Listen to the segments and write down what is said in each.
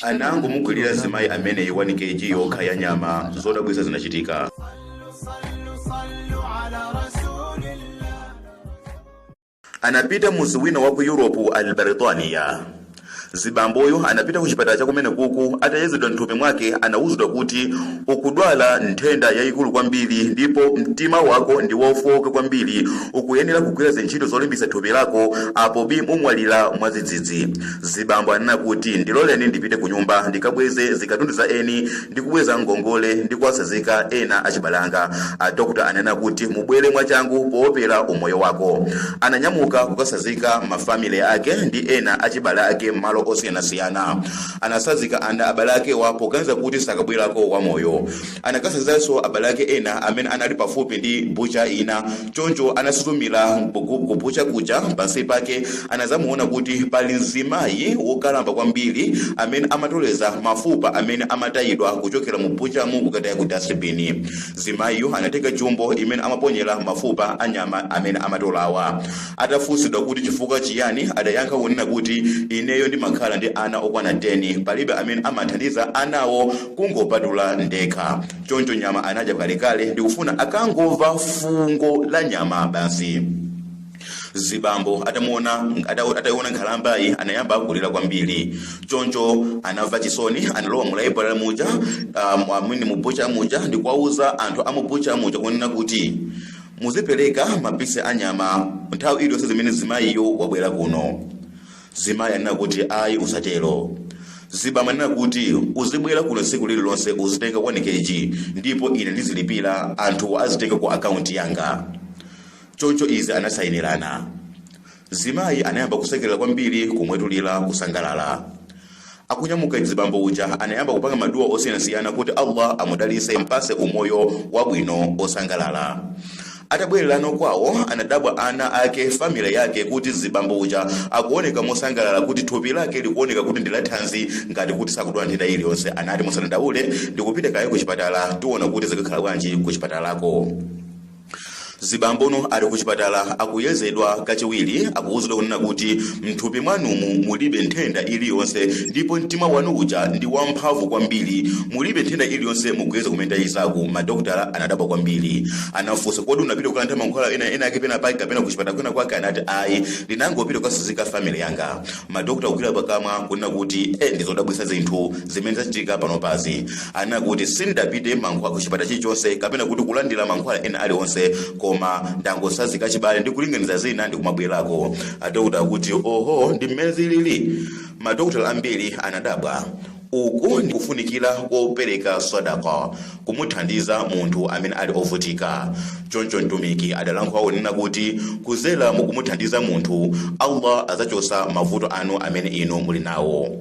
anangomugulira zimayi ameneyi 1 kg yokha ya nyama zodabwisa zinachitika anapita muzi wina wa ku europe al baritaniya zibamboyu anapita ku chipatala cha kumene kuku atayezedwa mthupi mwake anawuzidwa kuti ukudwala nthenda yayikulu kwambiri ndipo mtima wako ndi wofowoka kwambiri ukuyenera kugwira zintchito zolimbisa thupi lako apo bi mumwalira mwadzidzidzi Zibambo anena kuti, Ndiloleni ndipite kunyumba ndikabweze zikatundu za eni ndi kubweza ngongole ndi kuwatsazika ena achibale anga. A doctor anena kuti, Mubwere mwachangu poopera umoyo wako. Ananyamuka kukatsazika ma family ake ndi ena achibale ake m'malo osiyanasiyana. Anatsazikana ndi abale akewa poganiza kuti sakabwerako wamoyo. Anakasazikanso abale ake ena amene anali pafupi ndi bucha ina. Choncho anasuzumira ku bucha kuja. Pansi pake anadzamuona kuti pali mzimayi wokalamba kwambiri amene amatoleza mafupa amene amatayidwa kuchokera mu buchamu kukataya ku dasibini. Mzimayiyu anatenga jumbo imene amaponyera mafupa a nyama amene amatolawa. Atafunsidwa kuti chifukwa chiyani, adayankha kunena kuti, Ineyo ndimakhala ndi ana okwana 10. Palibe amene amathandiza anawo. kungopatula ndekha choncho nyama anadya kalekale ndikufuna akangomva fungo la nyama basi zibambo atamuona ata- ataiona nkhalambayi anayamba kulira kwambiri choncho anamva chisoni analowa mu laibulale muja um, amene mubucha muja ndikuwauza anthu amubucha muja kunena kuti muzipereka mapisi a nyama nthawi iliyonse imene zimayiyo wabwera kuno Zimayi anena kuti ayi usatero. Zibambo anena kuti uzibwera kuno tsiku lililonse uzitenga 1 kg ndipo ine ndizilipira anthuwa azitenga ku akaunti yanga. Choncho izi anasayinirana. Zimayi anayamba kusekerera kwambiri kumwetulira kusangalala. Akunyamuka mzibambo uja anayamba kupanga ma dua osiyanasiyana kuti Allah amudalise ampase umoyo wabwino osangalala. Atabwelelano kwawo anadabwa ana ake family yake kuti mzibambo uja akuoneka mosangalala kuti thupi lake likuoneka kuti ndilathanzi ngati kuti sakudwala nthenda iliyonse anati musadandaule ndikupita kaye kuchipatala tiona kuti zikakhala bwanji kuchipatalako. Zibambo no ali kuchipatala akuyezedwa kachiwiri akuwuzidwa kunena kuti mthupi mwanumu mulibe nthenda iliyonse ndipo mtima wanu uja ndi wamphamvu kwambiri mulibe nthenda iliyonse mukuyeza kumene tayezaku madokotala anadabwa kwambiri anafunsa kodi unapita kukalandira mankhwala ena ake pena pake kapena kuchipatala kwina kwake anati ayi ndinangopita kukasazika family yanga Madokotala kugwira pakamwa kunena kuti eh ndizodabwisa zinthu zimene zachitika panopazi. Anena kuti sindapite mankhwala ku chipatala chilichonse kapena kuti kulandira mankhwala ena aliwonse koma ndangotsanzika chibale ndi kulinganiza zina ndi kumabwerako. Adokotala akuti oho ndi mmene zilili. Madokotala ambiri anadabwa. Uku ndi kufunikira kopereka sadaka kumuthandiza munthu amene ali ovutika. Choncho Mtumiki adalankhula kunena kuti kuzera mukumuthandiza munthu, Allah adzachosa mavuto anu amene inu muli nawo.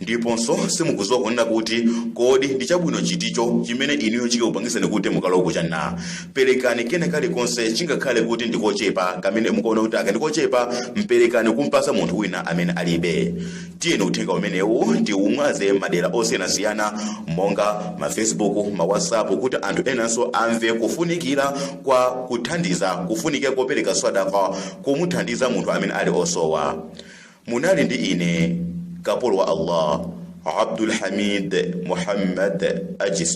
Ndiponso simukuziwa kunena kuti kodi ndi chabwino chiticho chimene inuyo chikakupangitseni kuti mukalowe ku Jannah. Perekani kena kalikonse chingakhale kuti ndi kochepa kamene mukuona kuti aka ndi kochepa, mperekani kumpatsa munthu wina amene alibe. tiyeni uthenga umenewu tiumwaze madera osiyanasiyana monga ma facebook ma whatsapp kuti anthu enanso amve kufunikira kwa kuthandiza kufunikira kopereka sadaka kumuthandiza munthu amene ali osowa munali ndi ine kapolo wa allah abdul hamid muhammad ajis